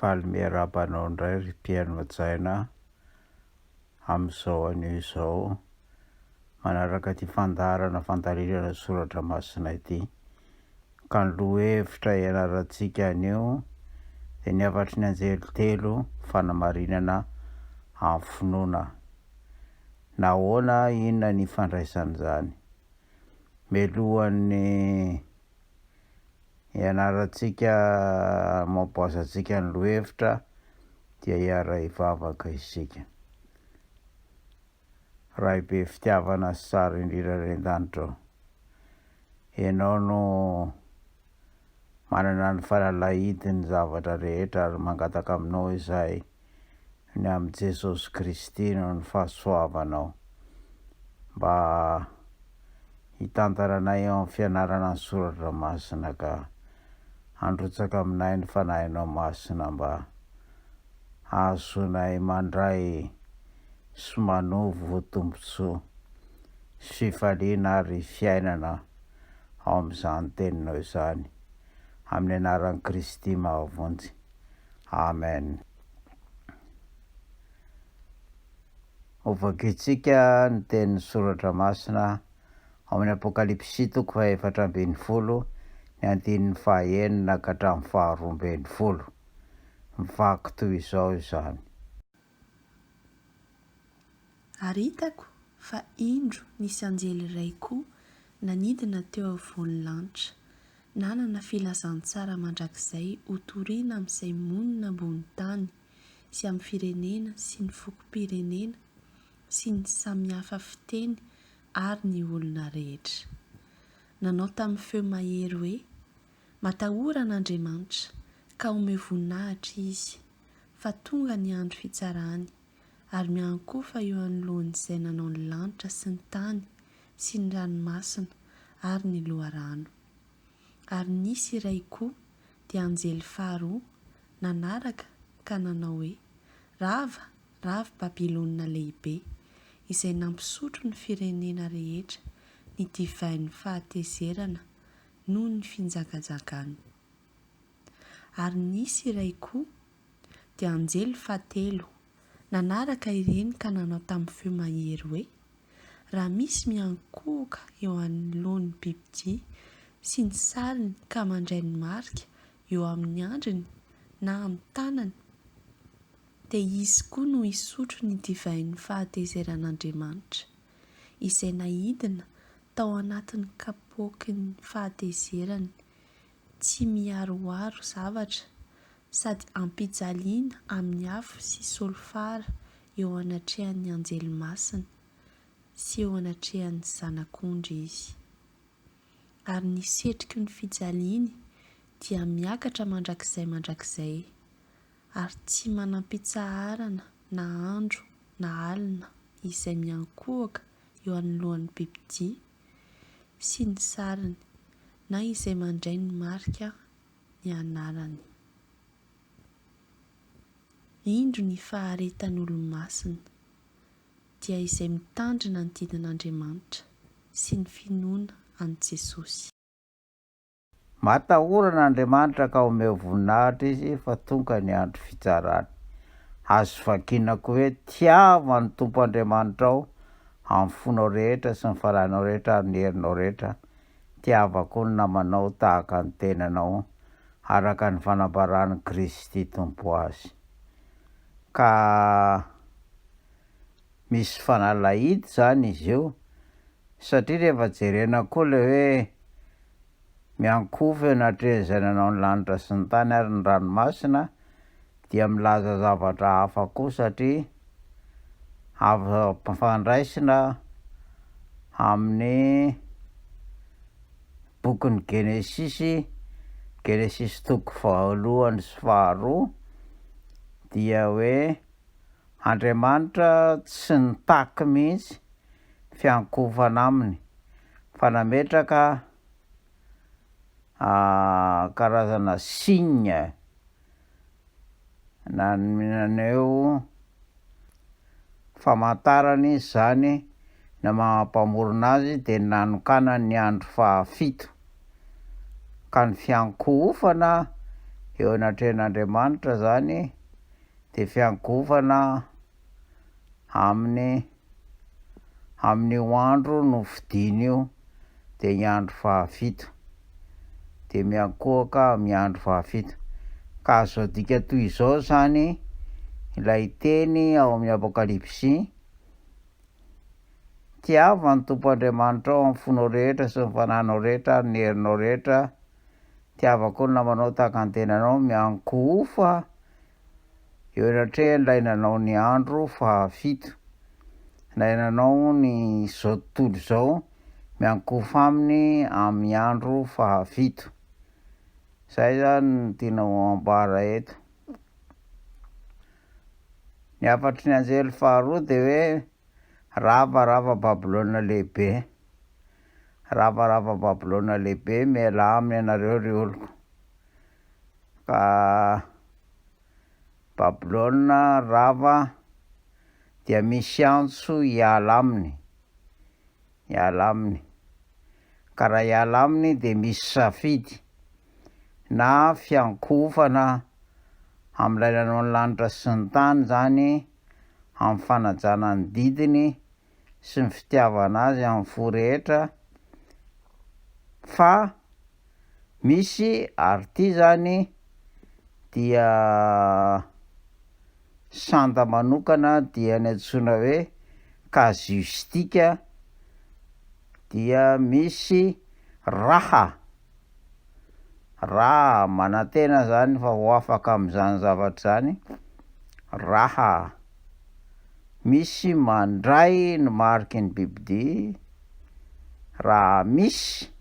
Faly miarahaba anao indray ry Pierre Najaina a! Amin'izao anio izao manaraka ity fandaharana fandalinana soratra masina ity. Ka ny lohahevitra ianarantsika anio dia ny hafatry ny anjely telo fanamarinana amin'ny finoana. Nahoana inona ny ifandraisan'izany? Mialohan'ny ianarantsika hamaopoaza antsika ny lohevitra dia hiara-hivavaka isika. Ray be fitiavana sy tsara indrindra indray an-danitra ô. Ianao no manana ny fanalahidin'ny zavatra rehetra ary mangataka aminao izahay ny amin'i Jesosy Kristy noho ny fahasoavanao. Mba hitantara anay eo amin'ny fianarana ny soratra masina ka handrotsaka aminay ny Fanahinao Masina mba hahazoanay mandray sy manovo tombontsoa sy fifaliana ary fiainana ao amin'izany Teninao izany. Amin'ny anaran'i Kristy mahavonjy. Amen. Hovakintsika ny tenin'ny Soratra Masina ao amin'ny Apokalypsy toko fahefatra ambin'ny folo, ny andininy fahaenina ka hatramin'ny faharoa ambin'ny folo. Mivaky toy izao izany. Ary hitako fa indro nisy anjely iray koa nanidina teo afovoan'ny lanitra, nanana filazantsara mandrakizay hotorina amin'izay monina ambony tany, sy amin'ny firenena sy ny fokom-pirenena sy ny samy hafa fiteny ary ny olona rehetra. Nanao tamin'ny feo mahery hoe, Matahora an'Andriamanitra, ka omeo voninahitra Izy, fa tonga ny andro fitsarany, ary miankohofa eo anoloan'izay nanao ny lanitra sy ny tany sy ny ranomasina ary ny loharano. Ary nisy iray koa, dia anjely faharoa, nanaraka ka nanao hoe, Rava, rava Babylona Lehibe, izay nampisotro ny firenena rehetra ny divain'ny fahatezerana noho ny finjakajakany. Ary nisy iray koa, dia anjely fahatelo, nanaraka ireny ka nanao tamin'ny feo mahery hoe, Raha misy miankohoka eo anoloan'ny bibidia sy ny sariny ka mandray ny marika eo amin'ny andriny na amin'ny tanany, dia izy koa no hisotro ny divain'ny fahatezeran'Andriamanitra, izay naidina tao anatin'ny kapoaky ny fahatezerany. tsy miharoharo zavatra sady am-pijaliana amin'ny afo sy solifara eo anatrehan'ny anjely masina sy eo anatrehan'ny Zanak'ondry izy. Ary ny setroky ny fijaliany dia miakatra mandrakizay mandrakizay, ary tsy manam-pitsaharana na andro na alina izay miankohoka eo anoloan'ny bibidia, sy ny sariny na izay mandray ny marika ny anarany. Indro ny faharetan'olo-masina, dia izay mitandrina ny didin'Andriamanitra sy ny finoana an'i Jesosy. Matahorana Andriamanitra ka omeo voninahitra Izy fa tonga ny andro fitsarany. Azo vakina koa hoe, Tiava ny Tompo Andriamanitrao amin'ny fonao rehetra sy ny fanahinao rehetra ary ny herinao rehetra, tiava koa ny namanao tahaka ny tenanao, araka ny fanambaran'i Kristy Tompo azy. Ka. misy fanalahidy zany izy io satria rehefa jerena koa le hoe miankohofena hatrezay nanao ny lanitra sy ny tany ary ny ranomasina dia milaza zavatra hafa koa satria azo ampifandraisina amin'ny bokin'ny genesisy genesisy toko fahalohany sy faharoa dia hoe Andriamanitra tsy nitaky mihitsy fiankohofana aminy fa nametraka karazana signe naneho famantarana izy izany ny maha mpamorona azy dia nanokanany ny andro fahafito ka ny fiankohofana eo anatrehan'Andriamanitra izany Dia fiangovana aminy amin'io andro nofidiny io dia ny andro fahafito. Dia miankohoka amin'ny andro fahafito. Ka azo adika toy izao izany ilay teny ao amin'ny Apokalypsy, Tiava ny Tompo Andriamanitrao amin'ny fonao rehetra sy ny fananao rehetra ary ny herinao rehetra, tiavako ny namanao tahaka ny tenanao miankohofa eo anatrehan ilay nanao ny andro fahafito ilay nanao ny izao tontolo izao miankohofa aminy amin'ny andro fahafito izay izany no tiana ho ambara eto ny hafatry ny anjely faharoa dia hoe rava rava Babylona lehibe Rava rava Babylona lehibe mialà aminy ianareo ry oloko ka Babylona rava dia misy antso hiala aminy hiala aminy ka raha hiala aminy dia misy safidy na fiankohofana amin'ilay nanao ny lanitra sy ny tany izany amin'ny fanajana ny didiny sy ny fitiavana azy amin'ny fo rehetra fa misy ary ity zany dia sanda manokana dia ny antsoina hoe casuistique dia misy raha Raha manantena izany fa ho afaka amin'izany zavatra izany, raha misy mandray ny mariky ny bibidia, raha misy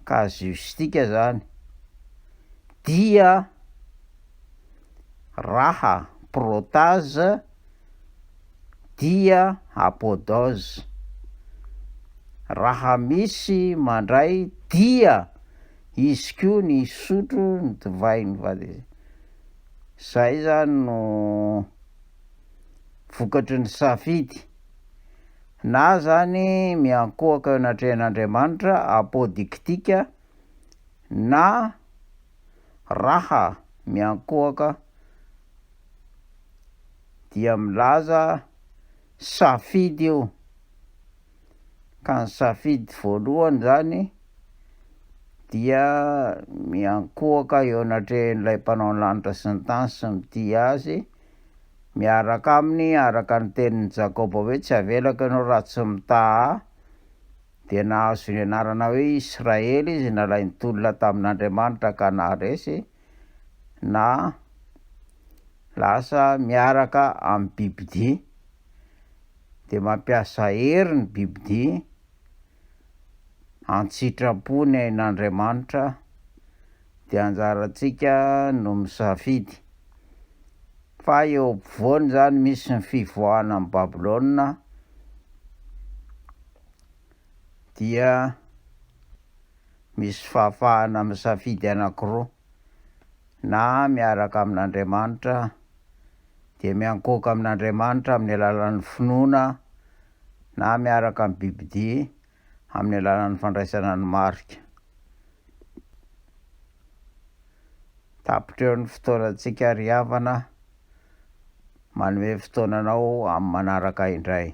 casuistique izany, dia raha protage. dia apodòz. Raha misy mandray dia izy koa ny hisotro ny divain'ny vadiny. Zay zany no vokatry ny safidy. Na zany miankohoka eo anatrehan'Andriamanitra, apodiktika, na raha miankohoka. dia milaza safidy io, ka ny safidy voalohany zany dia miankohoka eo anatrehan'ilay mpanao ny lanitra sy ny tany sy ny tia azy miaraka aminy araka ny tenin'i Jakoba hoe tsy avelako ianao raha tsy mitaha ahy, dia nahazo ny anarana hoe Israely izy nalain'ny tolona tamin'Andriamanitra ka naharesy na lasa miaraka amin'ny bibidia, dia mampiasa hery ny bibidia an-tsitrapo ny ain'Andriamanitra, dia anjarantsika no misafidy. Fa eo ampovoany izany misy ny fivoahana an'i Babylona dia. misy fahafahana misafidy anankiroa, na miaraka amin'Andriamanitra, dia miankohoka amin'Andriamanitra amin'ny alalan'ny finoana, na miaraka amin'ny bibidia amin'ny alalan'ny fandraisana ny marika. Tapitra eo ny fotoanantsika ry havana, manome fotoana anao amin'ny manaraka indray.